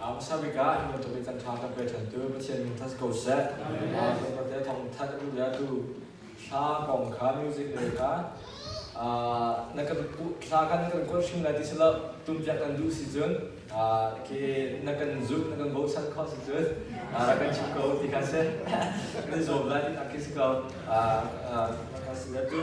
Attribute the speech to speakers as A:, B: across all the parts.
A: A hmasa bik ah hi bantuk i kan ṭha kan pe ṭhantu Pathian min that ko seh. Bantuk thawngthat a duhliatu hla kong kha music le kha na kan hla kha na kan kuat hrim lai ti si lo tumpiak kan duh si cun khi na kan zumh na kan bochan khawh si cun ra kan chim ko ti kha si kan i zuam lai ti nak khi si ko ka si tu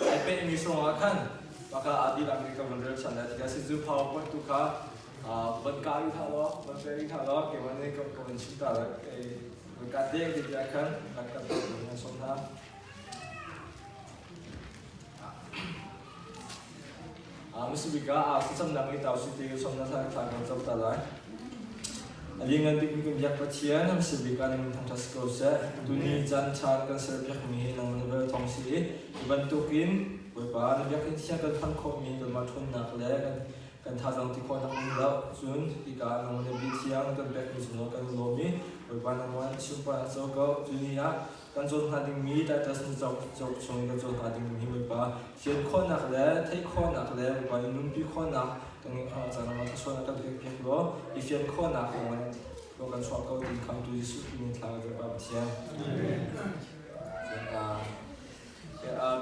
A: Ai penmi hrawng ah khan maka adil America van rel chan lai tiah si zu PowerPoint tu kha van ka ri tha law van pe ri tha law ke wan ne ko ko in chim ta le ke van ka deng ti bia khan kan kan ta ko nan som na Masabika ah kuchamnak i tau site ke somna thla thla kan chop ta lai. Alingan bik kun biak pathian ham sibika ning thangtha skor se tuni chan chan kan ser biak mi nang man vel thong si i bantukin boipa na biak in thian kan phang khom mi kan ma thun nak le kan kan tha jong ti khon nak ning lo cun ika nang man bi thiang kan biak mi zuno kan lo mi boipa nang wan sium pa na cho ko tuni ah Kan cawn hnga dingmi Titus nu cauk, cauk chung kan cawn hnga dingmi bawipa fian khawhnak le theih khawhnak le bawipa nih nunpi khawhnak kan caan ah thlasuan a kan pek pek law i fian khawhnak lawng in law kan chuah ko ti khamtu Jesuh min thla ka Bawipa Pathian.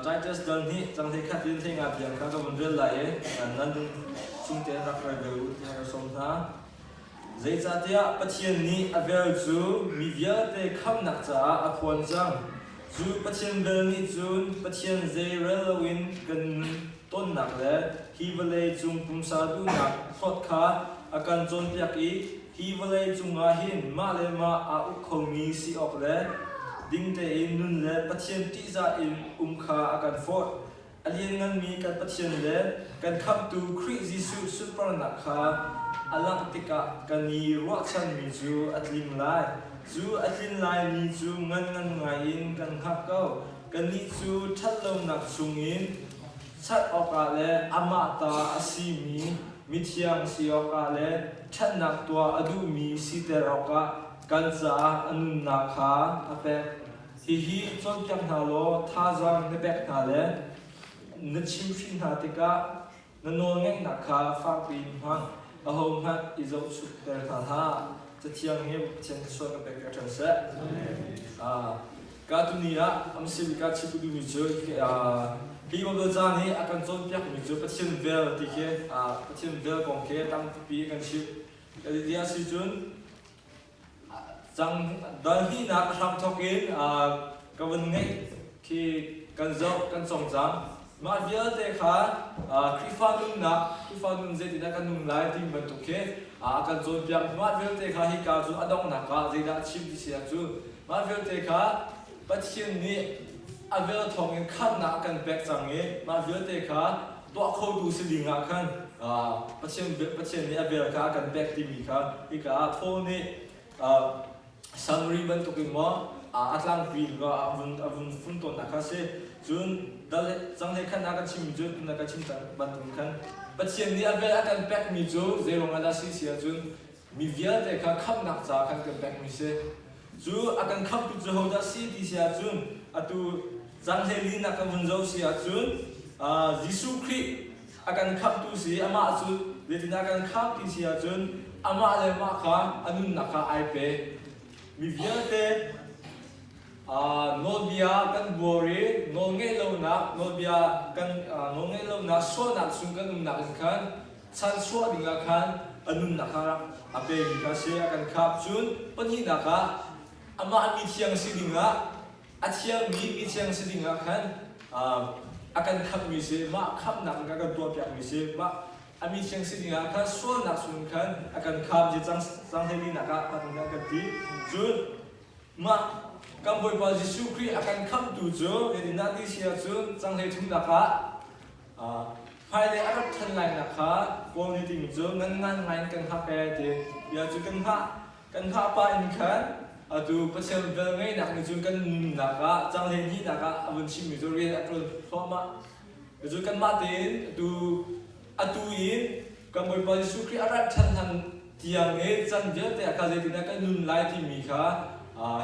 A: Titus dal nih cang hlei khat in hlei nga biang kha ka vun rel lai i nan nun chung te rak rai ve u tiah ka sawm hna. Zeicahtiah Pathian nih a vel cu mi vialte khamhnak caah a phuan cang, cu Pathian vel nih cun Pathian zei rel loin kan nun tonnak le hi vawlei cung pumsa duhnak hlawt kha a kan cawnpiak i hi vawlei cungah hin mah le mah aa uk khomi si awk le ding tein nun le Pathian ṭihzah in um kha a kan forh. A liannganmi kan Pathian le kan Khamhtu Khrih Jesuh sunparnak kha a langh tikah kan i ruahchanmi cu a tling lai. Cu a tlin laimi cu nganngan ngaiin kan hngak ko. Kannih cu ṭhatlonak chungin chat awkah le amah ta a simi mithiang si awkah le ṭhatnak tuah a duhmi siter awkah kan caah a nunnak kha a pek. Hihi cawnpiak hna law thazaang na pek hna le na chimhhrinh hna tikah na nawlngeihnak kha fakpi in hmang ahohmanh i zohchukter hna hlah. Cathiang hi Pathian sual na pek ṭhan seh. Ka tuni ah amsimi ka chim duhmi cu hi Baibal ca nih a kan cawnpiakmi cu Pathian vel ti khi Pathian vel kong khi tampi kan chimh. Kan ti a si cun Donhihnak a hram thawk in ka vun ngeih khi kan zoh kan cong cang. Mah vialte kha Khrihfa nunnak, Khrihfa nun zeitindah kan nun lai ti bantuk khi a kan cawnpiak. Mah vialte kha hika cu a donghnak ah zeidah a chim ti si ah cu mah vialte kha Pathian nih a vel thawng in khamhnak a kan pek cang i mah vialte kha tuah khotu si ding ah khan Pathian, Pathian nih a vel kha a kan pek timi kha hika ah Paul nih Samari bantuk in maw a tlangpi in a vun a vun fun tawnnak kha si cun dal cang he khan a kan chim cun a kan chim bantuk khan Pathian nih a vel a kan pekmi cu zeiruang ah dah si si ahcun Mi vialte kha khamhnak ca khan kan pekmi si. Cu a kan khamhtu cu hodah si ti si ahcun, atu caan hleilinak kan vun zoh si ahcun, Jesuh Khrih a kan khamhtu si i amah cu zeitindah a kan khamh ti si ahcun, amah le mah kha a nunnak kha ai pe. Mi vialte nawlbia kan buar i nawlngaih lonak, nawlbia kan nawlngaih lonak sualnak chung kan umnak in khan Chan chuah ding ah khan a nunnak ah a pemi ka si a kan khamh. Cun pahnihnak ah, amah mi thiang si ding ah, a thiangmi mi thiang si ding ah khan a kan khamhmi si, mah khamhnak in a kan tuahpiakmi si, mah a mi thiang si ding ah khan sualnak chung khan a kan khamh je cang hleinihnak ah hman an kan ti. Cun mah kan Bawipa Jesuh Khrih a kan khamhtu cu, hitin a ti si ahcun, canghlei thumnak ah Hmailei a rat ṭhan lainak kha Kawl nih tiin cu ngan ngai in kan hngak ee ti bia cu kan hngah. Kan hngah pah in khan atu Pathian vel ngeihnak ni cu kan nunnak ah cang hleihnihnak ah a vun chimmi cu rian a ṭuan thluahmah. Cucu kanmah tein atu atu in kan Bawipa Jesuh Khrih a rat ṭhan hlan tiang i can vialte ah kha zeitindah kan nun lai timi kha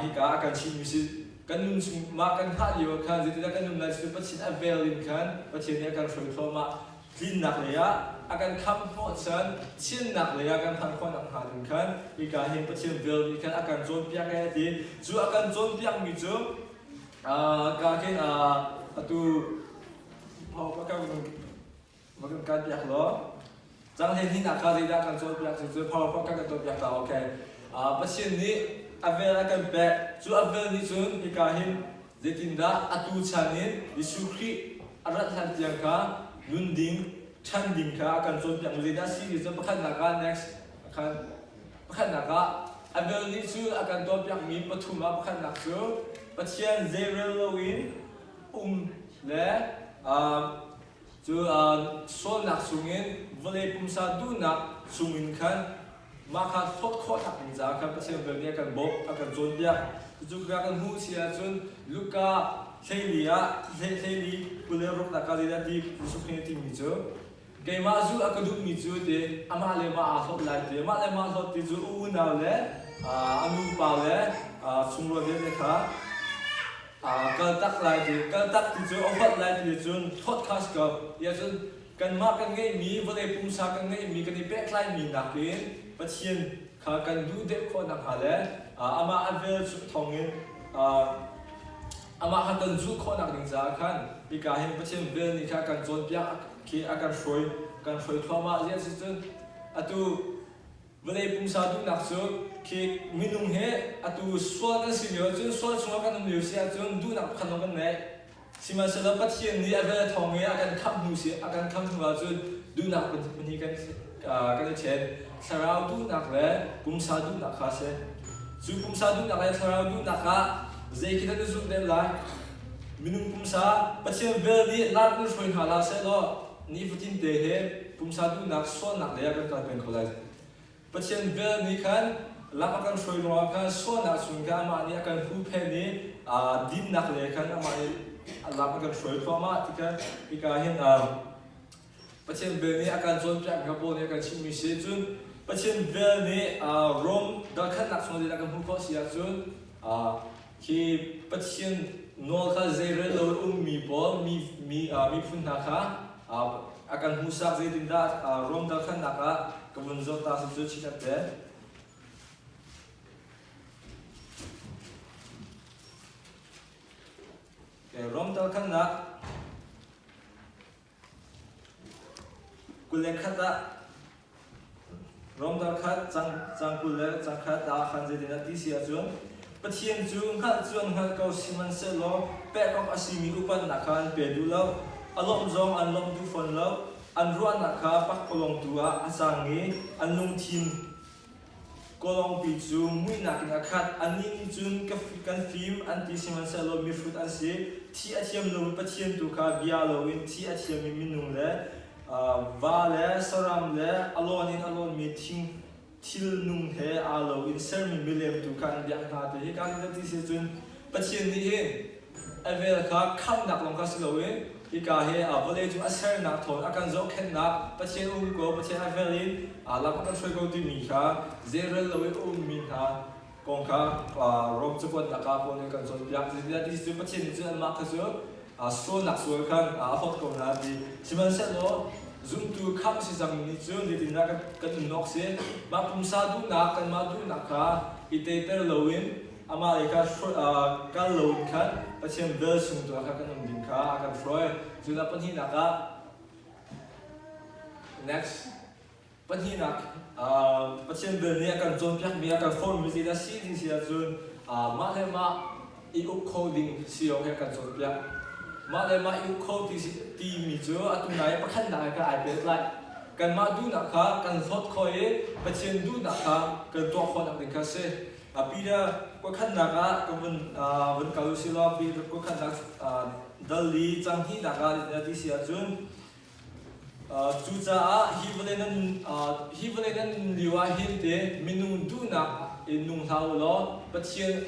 A: hika ah kan chimmi si. kan nun chung mah kan hngah lio ah khan zeitindah kan nun lai cu Pathian a vel in khan Pathian nih a kan hruai thluahmah tlinnak lei ah a kan khamh hnawh chan thiannak lei ah kan phanh khawhnak hnga ding khan hika hin Pathian vel nih khan a kan cawnpiak e a ti cu a kan cawnpiak mi cu ka khin atu mah ka va kan kai piak law cang hlei hnin ah ka zeidah kan cawl piak cu powerpoint kan kan tuah piak ta okay Pathian nih a vel a kan pek cu a vel nih cun hika hin zeitindah atu chan in Jesuh Khrih a rat hlan tiang kha nun ding ṭhan ding kha a kan cawnpiak zeidah si ti cu pakhatnak ah next khan pakhatnak ah a vel nih cu a kan tuahpiakmi pathum ah pakhatnak cu Pathian zeirel loin um le um Cu sualnak chungin vawlei pumsa duhnak chungin khan mah kha hlawt khawhnak ding caah khan Pathian vel nih a kan bawmh, a kan cawnpiak. Cucu ka kan hmuh si ahcun Luka hleili ah hleihleili kul le ruknak ah zeidah ti Jesuh Khrih nih a timi cu, Keimah zulh a ka duhmi cu ti amah le mah aa hlawt lai ti, amah le mah hlawt ti cu a unau le a nupa le a chungrual vialte kha Aa kaltak lai ti, kaltak ti cu a upat lai ti cun podcast ko i ahcun kanmah kan ngeihmi vawlei pumsa kan ngeihmi kan i pehtlaimi nakin Pathian kha kan duh deuh khawh nakhnga le amah a vel thawngin amah kha kan zulh khawhnak ding caah khan hika hin Pathian vel nih kha kan cawnpiak khi a kan hruai kan hruai thluahmah ziah si cun atu Vawlei pumsa duhnak cu khi minung hi atu sual kan si lio cun sual chungah kan um lio si ahcun duhnak pakhat zong kan neih. Sihmanhsehlaw Pathian nih a vel thawng i a kan khamh hnu si a kan khamh hnu ahcun duhnak phun hi kan kan i ṭhen. Thlarau duhnak le pumsa duhnak kha a si. Cu pumsa duhnak le thlarau duhnak ah zeikhel nan i zulh deuh lai? Minung pumsa Pathian vel nih lar kan hruai hna hlah sehlaw nifatinte he pumsa duhnak sualnak le kan kal peng kho lai. Pathian vel nih khan lam a kan hruai ruangah khan sualnak chung khan amah nih a kan huhphenh i dinnak le khan amah nih lam a kan hruai thluahmah ti khan hika hin Pathian vel nih a kan cawnpiak kha Paul nih a kan chimhmi si cun Pathian vel nih Rom darkhatnak chung ah a kan hmuh khawh si ahcun Hi Pathian nawl kha zeirel lo in ummi pawl mi, mi, uh, miphun hna kha uh, a kan hmuhsak zeitindah uh, Rom dalkhannak ah ka vun zawt ta cu chih kan tel. Okay, Rom dalkhannak Kul le khat ah Rom dang khat cang kul le cang khat ah khan zeitin a ti si ahcun Pathian cu hngalh cu an hngalh ko sihmanhsehlaw pekawk a simi upatnak kha an pe duh lo, a lawmh zong an lawmh duh fawn lo, an ruahnak kha pakpalawng tu ah a cang i an lungthin Kawlawngpi cu muihnak in a khat. A ning nih cun kan fim an ti sihmanhsehlaw mihrut an si. Thi a thiam lomi Pathian tu kha bia loin thi a thiammi minung le va le saram le a lawn in a lawnmi thil nung he aa lo in sermi milem tu kha an biak hna ti hi kaa hngalh ti si cun Pathian nih hin a vel kha khamhnak lawng kha si lo i hika hi vawlei cung a sernak thawin a kan zohkhenhnak Pathian um ko Pathian a vel in lam a kan hruai ko timi kha zeirel lo i a ummi hna kong kha Rom cakuatnak ah pawn in kan cawnpiak zeicah ti cu Pathian nih cu anmah kha cu sualnak sual khan a hawt ko hna ti sihmanhsehlaw zumtu khamh si cangmi nih cun zeitindah kan nun awk si mah pumsa duhnak kanmah duhnak kha i teiter loin amah i kal loin khan Pathian velchum tu ah khan kan um ding kha a kan hruai. Cun a pahnihnak ah next pahnihnak Pathian vel nih a kan cawnpiakmi a kan formmi ti a si ding si ahcun mah le mah i uk kho ding si awk he kan cawnpiak. Mah le mah i uk kho timi cu a tunai pakhatnak he kan ai pehtlai. Kanmah duhnak kha kan hlawt kho i Pathian duhnak kha kan tuah khawhnak ding kha si. A Peter kuakhannak ah ka vun vun kal u silaw Peter kuakhannak dal i cang hnihnak ah a ti si ahcun cucaah hi vawlei nan hi vawlei nan nun lio ah hin te minung duhnak in nung hlah u law Pathian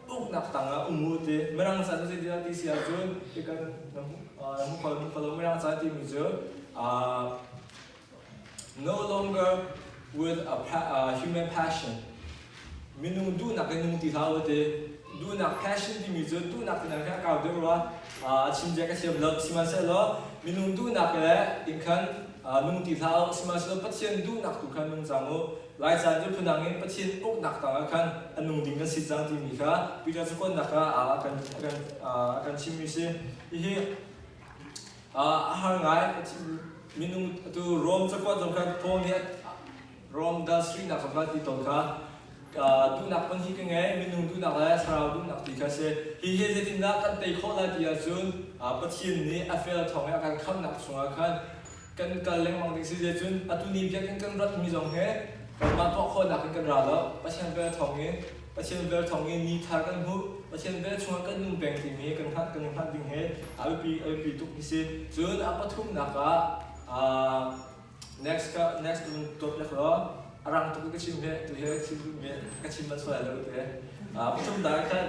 A: uknak tangah um u ti mirang chan cu ti ti si ahcun ti kan na hmu kho na hmu kho mirang chan timi cu No longer with a uh, human passion. Minung duhnak in nung ti hlau te. Duhnak passion timi cu duhnak tinak hi a kau deuh rua. Uh, chimjia ka thiam lo sihmanhsehlaw minung duhnak le in khan uh, nung ti hlau sihmanhsehlaw Pathian duhnak tu khan nung cang u. Lai caan cu phunang in Pathian uknak tangah khan a nung ding kan si cang timi kha Peter cukonnak ah kan kan uh, kan chimmi si. Hihi a har ngai a thim minung atu Rome cakuat zong kha Paul nih Rome das rihnak zong kha ti tawn kha duhnak hmun hi ka ngei minung duhnak le thlarau duhnak ti kha si hi hi zeitindah kan tei khawh lai ti ahcun Pathian nih a fel thawng i a kan khamhnak chungah khan kan in kal lengmang ding si cun atu ni biakinn kan ratmi zong he kanmah tuahkhawhnak in kan ra lo Pathian vel thawng in Pathian vel thawng in ni thar kan hmuh Pathian vel chungah kan nung peng timi kan hngalh kan hngalh ding he a biapi a biapi tuk hi si cun a pathumnak ah next next dawtnak law a rang tuk ka chim he tu he thil ve ka chim manh sual lai lo te pathum da khan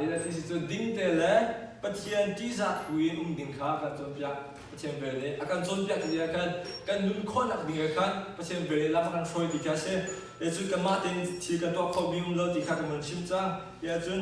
A: NLT cun dingte le Pathian ṭihzah thlu in um ding kha kan cawnpiak. Pathian vel nih a kan cawnpiak ni ah khan kan nun khawhnak ding ah khan Pathian vel nih lam a kan hruai ti kha a si. Cun kanmah tein thil kan tuah khomi um lo ti kha kan van chim cang. Tiah cun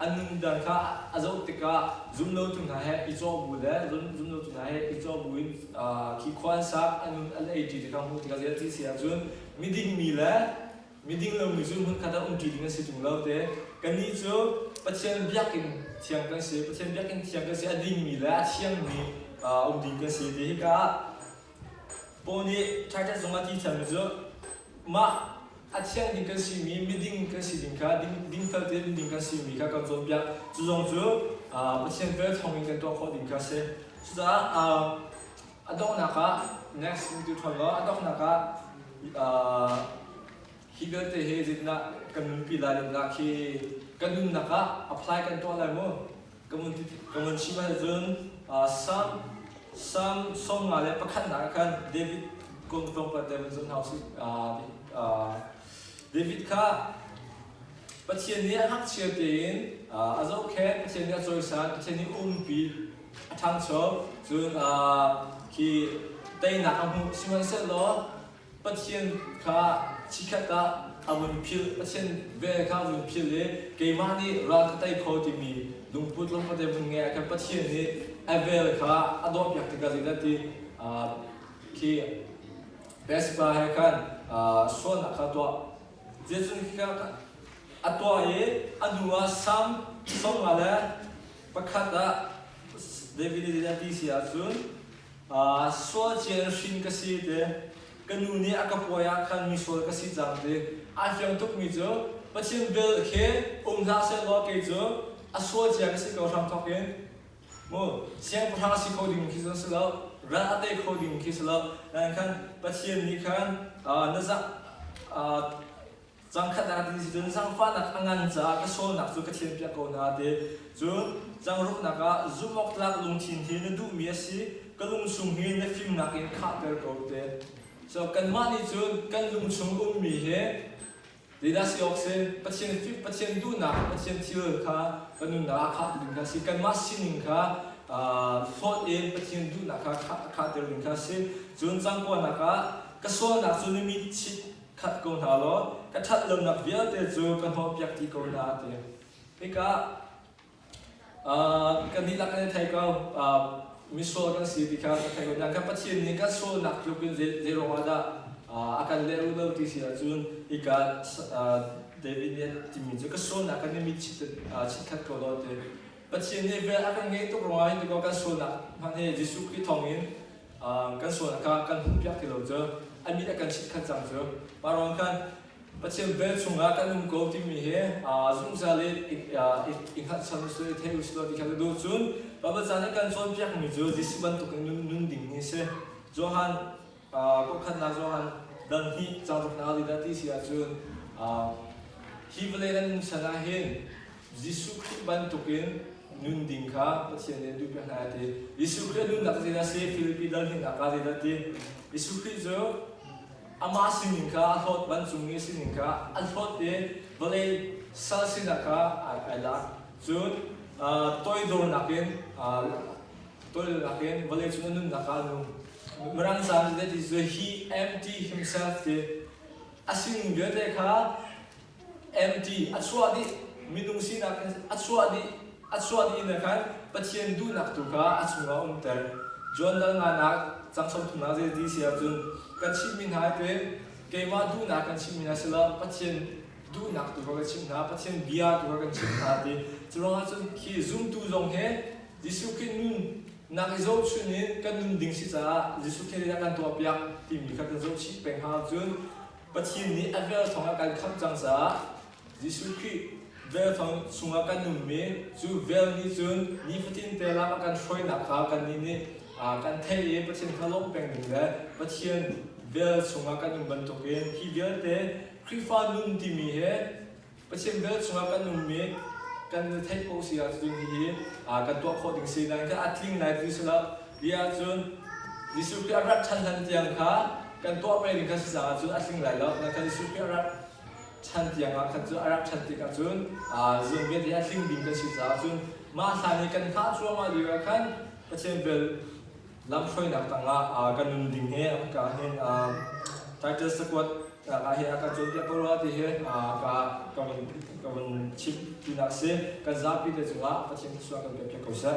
A: an nunter kha a zoh tikah zumlotu hna he i cawh bu le zumlotu hna he i cawh bu in khi khua an sak an nun an ei ṭi tikah hmuh tikah ziah ti si ahcun midingmi le miding lomi cu hmunkhat ah um ṭi ding an si ṭung lo te kannih cu Pathian biakinn thiang kan si Pathian biakinn thiang kan si a dingmi le a thiangmi um ding kan si ti hika ah Paul nih Titus zung a ti thiammi cu mah a thiang ding kan simi miding kan si ding kha dingfel tein ding kan simi kha kan cawnpiak cu zong cu Pathian vel thawng in kan tuah khawh ding kha a si cucaah a donghnak ah next tu ṭhawn law a donghnak ah hi vialte hi zeitindah kan nunpi lai dinnak hi kan nunnak ah apply kan tuah lai maw? ka vun chim ahcun Salm sawm nga le pakhatnak ah khan David kong tlawmpal te vun zun hau si David kha Pathian nih a ngakchia tein a zohkhenh Pathian nih a cawisan Pathian nih umpi a ṭhangcho cun khi teinak a hmuh sihmanhsehlaw Pathian kha chikhat ah a vun philh Pathian vel kha a vun philh i keimah nih ral ka tei kho timi lungput le khuate hmun ngeih ah khan Pathian nih a vel kha a dawh piak tikah zeidah ti khi Pespa he khan sualnak kha tuah Jesuh kha a tuah i a hnu ah Salm sawm nga le pakhat ah David i zeidah ti si ahcun sual cial hrin ka si te ka nu nih a ka puai ah khan mi sual ka si cang ti a hliang tukmi cu Pathian vel khi um hlah seh law kei cu a sual cia ka si ko hram thawk in mu siangpahrang si kho ding khi cu si lo ral a tei kho ding khi si lo nain khan Pathian nih khan na zah Cangkhat ah ding si cun zangfahnak a ngan caah ka sualnak cu ka thianpiak ko na ti. Cun zangruknak ah zumh awk tlak lungthin hi na duhmi a si, ka lungsung hi na fimnak in khahter ko te. So kanmah nih cun kan lungchung ummi hi Didas i awk si Pathian, Pathian duhnak, Pathian thil kha ka nunnak ah khah ding kha si kanmah sining kha hlawt in Pathian duhnak kha khahter ding kha si. Cun cangkuanak ah ka sualnak cu na mit chit That ko hna law ka that lonak vialte cu ka hnawhpiak ti ko hna a ti. Hika uh, kan dihlak kan i thei ko uh, misual kan si ti kha ka thei ko hna. Kan Pathian nih kan sualnak tluk in zeiruang ah dah uh, a kan leru lo ti si ahcun hika uh, David nih a timi cu ka sualnak kan i mit chit khat ko law ti. Pathian nih vel a kan ngei tuk ruangah hin kan sualnak hmanh hi Jesuh Khrih thawngin kan sual a ka kan hmuhpiak ti lo cu a mit a kan chitkhat cang cu parong khan Pathian vel chungah kan um ko timi hi zungzal i hngalhsam uslu i thei uslu ti kha ka duh cun Baibal caan i kan cawnpiakmi cu Jesuh bantukin nun dingmi si Johan kawhkhannak Johan dal hnih cauk ruknak ah dah ti si ahcun hi vawlei nan nun san ah hin Jesuh Khrih bantukin nun ding kha Pathian nih an duhpiak hna ti. Jesuh Khrih a nunnak zeidah a si? Philipi dal hninhnak ah zeidah ti? Jesuh Khrih cu amah sining kha a hlawt, vancungmi sining kha a hlawt i vawlei sal sinak kha ai lak. Cun toidornak in toidornak in vawleicung a nunnak kha a nung. Mirang caah zeidah ti? He empty himself ti. A sining vialte kha MT a chuah dih minung sinak in a chuah dih a chuah dih in khan Pathian duhnak tu kha a chungah a umter John dal nga nak cang som thumnak zei ti si ahcun kan chimmi hna te keimah duhnak kan chimmi hna si lo Pathian duhnak tu kha kan chimh hna Pathian bia tu kha kan chimh hna ti curuangah cun khi zumtu zong he Jesuh Khrih nun nak i zohchun in kan nun ding si caah Jesuh Khrih nih a kan tuah piak timi kha kan zoh chih peng hna ahcun Pathian nih a vel thawngah kan khamh cang caah Jesuh Khrih vel thong chungah kan ummi cu vel nih cun nifatin te lak a kan hruainak kha kannih nih kan theih i Pathian kha lawmh peng ding le Pathian vel chungah kan um bantukin hi vialte Khrihfa nun timi he Biachim bel chungah kan um i kan nu theih paoh si ahcun hihi kan tuah khawh ding si dan kha a tling lai ti si lo bia ahcun Jesuh Khrih a rat ṭhan hlan tiang kha kan tuah peng ding kha si caah cun a tling lai lo nakhal Jesuh Khrih a rat ṭhan tiang ah khan cu a rat ṭhan tikah cun zuun vialte a tling ding kan si caah cun mah hlan i kan hngah cuahmah lioah khan Pathian vel lamhruainak tangah uh, kan nun ding he ka hen um, title squad ka he aka cawnpiak ko rua ti he ka ka vun ka vun chim ti na si kan zapi te cungah pathian thlusuah kan pe ko seh